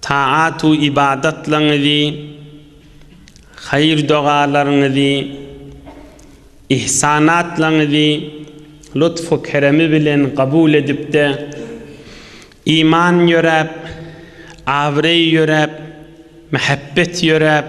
Taat-u ybadatlaryňyzy, haýyr-dogalaryňyzy, ihsanatlaryňyzy lutf-u keremi bilen kabul edip-de, iman ýöräp, abraý ýöräp, mähebbet ýöräp,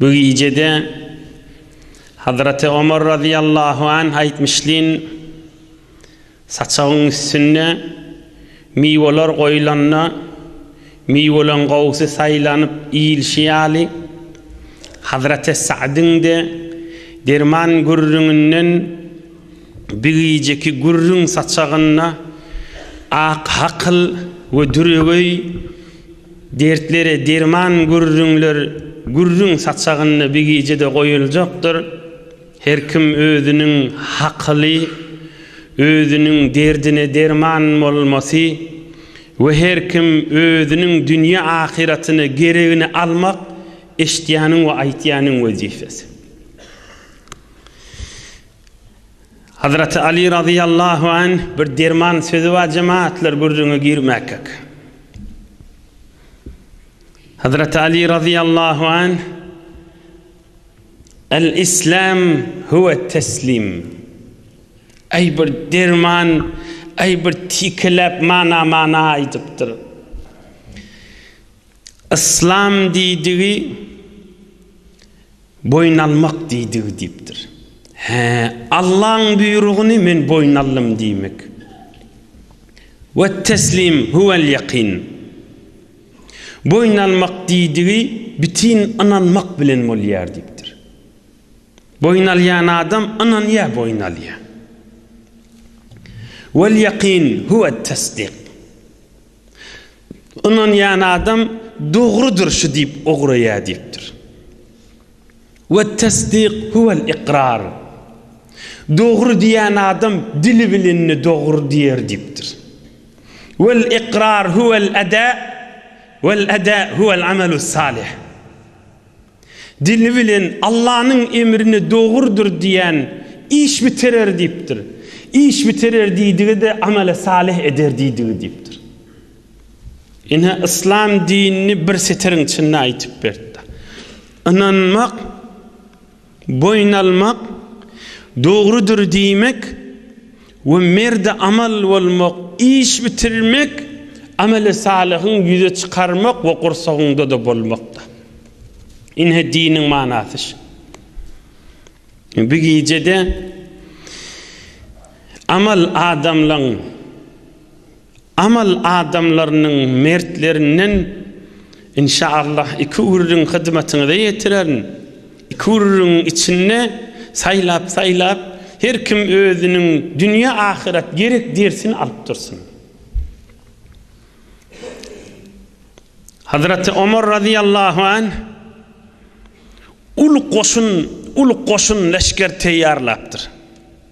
Bu gijede Hazraty Omar razyýallahu anh aýtmyşlyn, Saçagyň üstünde miweler goýlanda, miweleň gowusy saýlanyp iýilşi ýaly, Hazraty Sa'dyň-de derman gürrüňinden bu gijeki gürrüň saçagynda ak hakyl we düregöý, Dertlere derman gürrüňler gürrüň saçagynda bigije-de goýuljakdyr. Her kim özüniň hakyly, özüniň derdine derman bolmasy we her kim özüniň dünýe-ahyratyna geregini almak eşitýäniň we aýtýanyň wezipesi. Hazraty Aly razyýallahu anh bir derman sözi bar jemaatlar gürrüňe girmäkek. Hazraty Aly razyýallahu anh El islam huve teslim. Ay bir derman, ay bir tikelep mana mana aydypdyr. Yslam diýdigi boýun almak diýdigi diýipdir. Hä, Allaň buýrugyny men boýun aldym diýmek. Wetteslim huwel ýakin. Boýun almak diýdigi bitin ynanmak bilen bolýar diýipdir. Boýun alýan adam ynanýar boýun alýar. Wel ýakin huwet tesdik. Ynanýan adam dogrudyr şu diýip ugraýar diýipdir. Wet-tesdik huwel-ikrar. Dogry diýen adam dili bilenini dogry diýer diýipdir. Wel-ikrar huwel-eda, wel-eda huwel-amelus-salih. Dili bilen Allanyň emrine dogrudyr diýen iş bitirer diýipdir. Iş bitirer diýdigi-de amele salyh eder diýdigi diýipdir. Ine, yslam dinini bir setiriň içinde aýtyp berdi. Ynanmak, boýun almak, dogrudyr diýmek, We merde amal bolmak, iş bitirmek, ameli salyhyň ýüze çykarmak we gursagyňda-da bolmakda. Ine diniň manasy şu. Bu gijede amal adamlaň. Amal adamlarynyň mertlerinden inşaallah iki gürrüň hyzmatyňyza ýetirerin. Iki gürrüňiň içinde saýlap-saýlap her kim özüniň dünýe-ahyrat gerek dersini alyp dursun. Hazraty Omar razyýallahu anh uly goşun, uly goşun leşger teýýarlapdyr.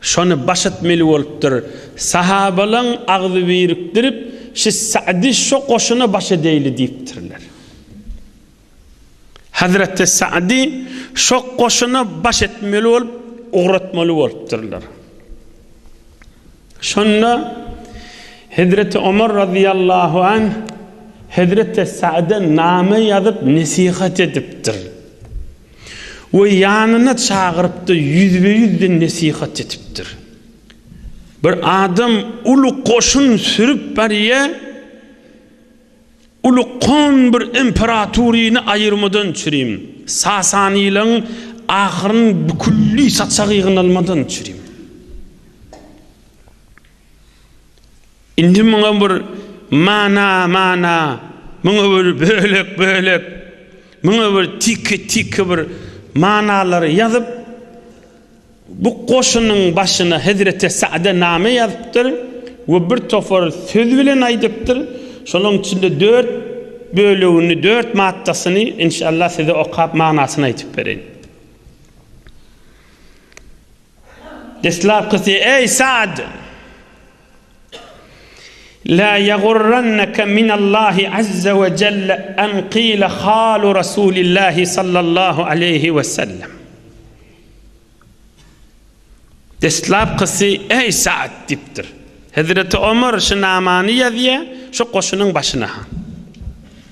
Şony baş etmeli bolupdyr. Sahabalaň agzy birikdirip, Şu Sa'dy şo goşuna baş edeýli diýipdirler. Hazreti Sa'dy şo goşuna baş etmeli bolup, ugratmaly bolupdyrlar. Şonda Hezreti Omar razyýallahu anh Hezreti Sa'da name ýazyp nesihat edipdir. We ýanyna çagyrypdy, ýüzbe-ýüzden nesihat etipdir. Bir adam uly goşun sürüp barýa, uly kon bir imperatoryny aýyrmadan çürim, sasanylaň ahyryny bükülli saçagy ýygnalmadan çürim. Indi muňa bir mana, mana, muňa bir bölek, bölek, muňa bir tiki, tiki bir manalary ýazyp, bu goşunyň başyna Hezreti Sa'de name ýazypdyr we bir topar söz bilen aýdypdyr. Şolaryň içinde dört bölegini, dört maddasyny, inşallah, size okap manasyny aýdyp bereýin. Deslapkysy, Eý, Sa'd! Lä ýagurranneke minallahi azza we jelle en kile halu Rasulillahi sallallahu aleýhi we sellem. Deslapkysy, Eý, Sa'd! diýipdir. Hezreti Omar şu namany ýazýar, şu goşunyň başyna.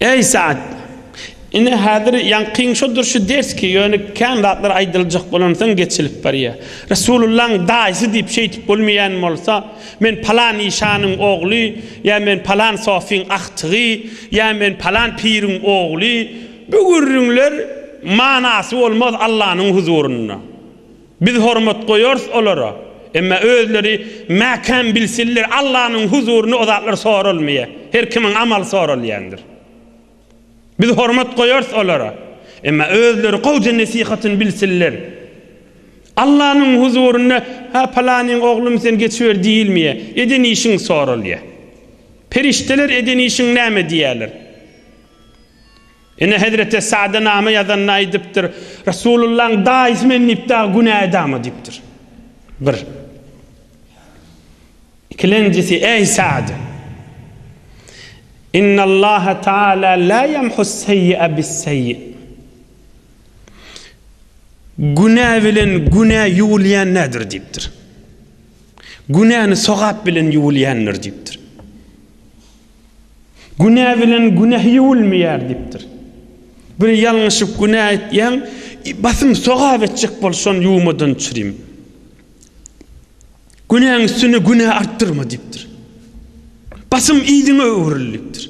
Eý, Sa'd! Ine, häzir ýaňkyň şodur şu ders ki, ýöne kän zatlar aýdyljak bolansoň geçilip barýar. Resulullahyň daýysy diýip şeýdip bolmaýan bolsa, men palan işanyň ogly ýa men palan sofyň agtygy ýa men palan piriň ogly, bu gürrüňler manasy bolmaz Allanyň huzurynda. Biz hormat goýarys olara. Emma özleri mäkäm bilsinler, Allanyň huzurynda o zatlar soralmaýar. Her kimiň amaly soralýandyr. Biz hormat goýarys olara. Emma özleri gowja nesihatyny bilsinler. Allanyň huzurynda, Hä, palanyň oglumy sen geçiber diýilmeýär. Eden işiň soralýar. Perişdeler eden işiň näme diýerler? Ine, hezreti Sada name ýazanda aýdypdyr, Resulullahyň daýysy men diýip dagy günä edama diýipdir. Bir. Ikilenjisi, eý Sad! Innallaha taala la yamhus seýi'a bis seýi. Günä bilen günä ýuwulýan nädir diýipdir. Günäni sogap bilen ýuwulýandyr diýipdir. Günä bilen günäh ýuwulmaýar diýipdir. Bir ýalňyşyp günä etýäň, basym sogap etjek bol, şony ýuwmadan düşürýin. Günäň üstüne günä artdyrma diýipdir. Basym yzyňa öwrül diýipdir.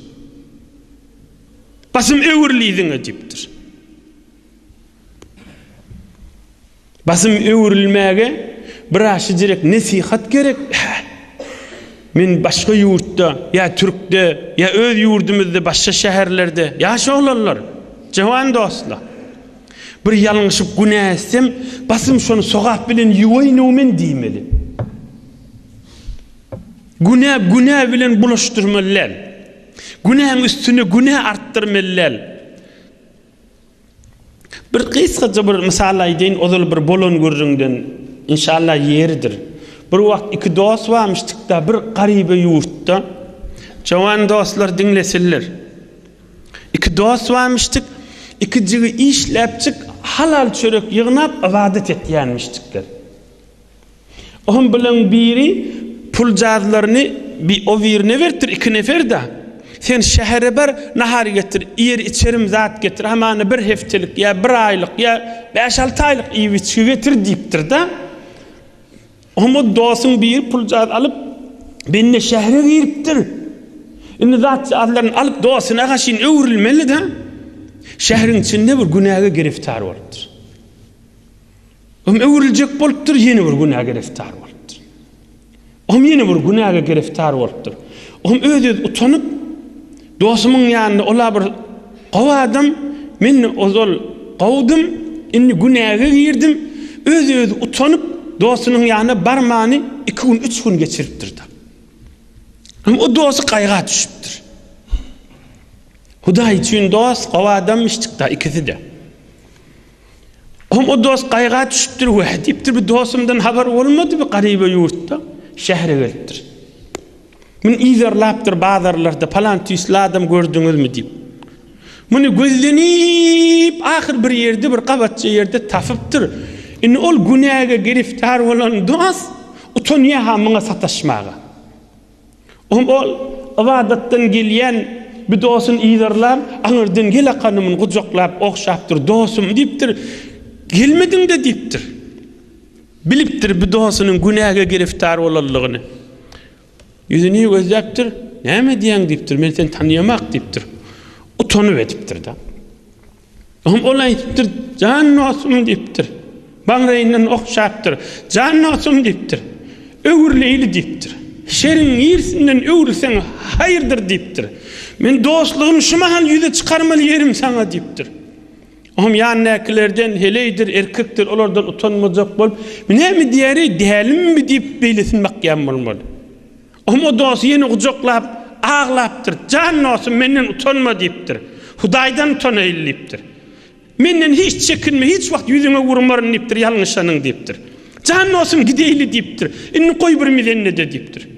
Basym öwrül yzyňa diýipdir. Basym öwrülmäge biraşijirek nesihat gerek hä. Men başga ýurtda ýa türkde ýa öz ýurdumyzda başga şäherlerde ýaş oglanlar, jawan dostlar. Bir ýalňyşyp günä etsem basym şony sogap bilen ýuwaýynow men diýmeli. Günä günä bilen bulaşdyrmaly däl. Günäň üstüne günä artdyrmaly däl. Bir gysgaja bir mysal aýdaýyn, ozal bir bolan gürrüňden, inşallah, ýeridir. Bir wagt iki dost barmyşdyk-da, bir garybe ýurtda. Jowan dostlar diňlesinler. Iki dost barmyşdyk, iki jigi işläpjik, halal çörek ýygnap, ybadat etýänmişdikler. Ohm bilen biri puljazlaryny bi o birine beripdir iki neferda. Sen şähere bar, nahar getir, iýer-içerim zat getir, hamana bir hepdelik ýa bir aýlyk ýa bäş-alty aýlyk iýip-içgi getir diýipdir-de. Ohm o dosyň biri puljaz alyp, bende şähere giripdir. Indi zat-jazlaryny alyp dostuna gaşyn öwrülmeli-de. Şäheriň içinde bir günäge giriftar bolupdyr. Olam öwrüljek bolupdyr, ýene bir günä gereftar bolupdyr. Olam ýene bir günäge gereftar bolupdyr. Olam öz-öz utanyp, dostumyň ýanynda ol-a bir gowy adam, men ozal gowudym, indi günäge girdim, öz-öz utanyp, dostunyň ýanyna barmany iki gün, üç gün geçiripdir-de. Olam o dosty gaýga düşüpdir. Hudaý üçin dost, gowy adam, şytda ikisi-de. Hom o dost gaýga düşüpdir, wä diýipdir, bu dostumdan habar bolmady, bu garyba ýurtda şähere gelipdir. Muny yzarlapdyr bazarlarda, palan tüýsli adam gördüňizmi diýip. Muny gözlenip, ahyr bir ýerde, bir gabatja ýerde tapypdyr. Indi ol günäge giriftar bolan dost utanýar-ha muňa sataşmaga. Oňa ol ybadatdan gelýän bir dostuny yzarlap, aňyrdan Gel akanymyny gujaklap, ogşapdyr, dostum diýipdir. Gelmediň-de diýipdir. Bilipdir bu dostunyň günäge giriftar bolanlygyny. Ýüzüni gözläpdir. Näme edýäň diýipdir. Men seni tanaýamak diýipdir. Utanyp edipdir-de. Ol aýdypdyr, Jan dostum diýipdir. Baňraýyndan okşapdyr, Jan dostum diýipdir. Öwrüleýli diýipdir. Şeriň irsinden öwrülseň haýyrdyr diýipdir. Men dostlugym şu mahal ýüze çykarmaly ýerim saňa diýipdir. Oňam ýanyndakylardan heleýdir, erkekdir, olardan utanmajak bolup, Men näme diýäri, dälimmi diýip beýlesini bakýan bolmaly. Omo dosty ýene gujaklap, aglapdyr, Jan dostum, menden utanma diýipdir. Hudaýdan utanaýyl diýipdir. Menden hiç çekinme, hiç wagt ýüzüňe urmaryn diýipdir, ýalňyşanyň diýipdir. Jan dostum, gideýli diýipdir. Indi goý bir milende-de diýipdir.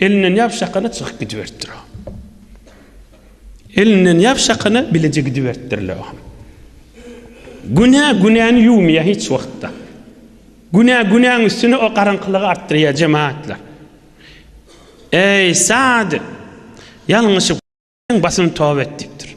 Elinden ýapyşakana çykyp gidiberipdir o. Elinden ýapyşakana bileje gidiberipdir-le o. Günä günäni ýuwmaýar hiç wagtda. Günä günäň üstüne o garaňkylygy artdyrýar jemaatlar. Eý sadyk! Ýalňyşyp basyn toba et diýipdir.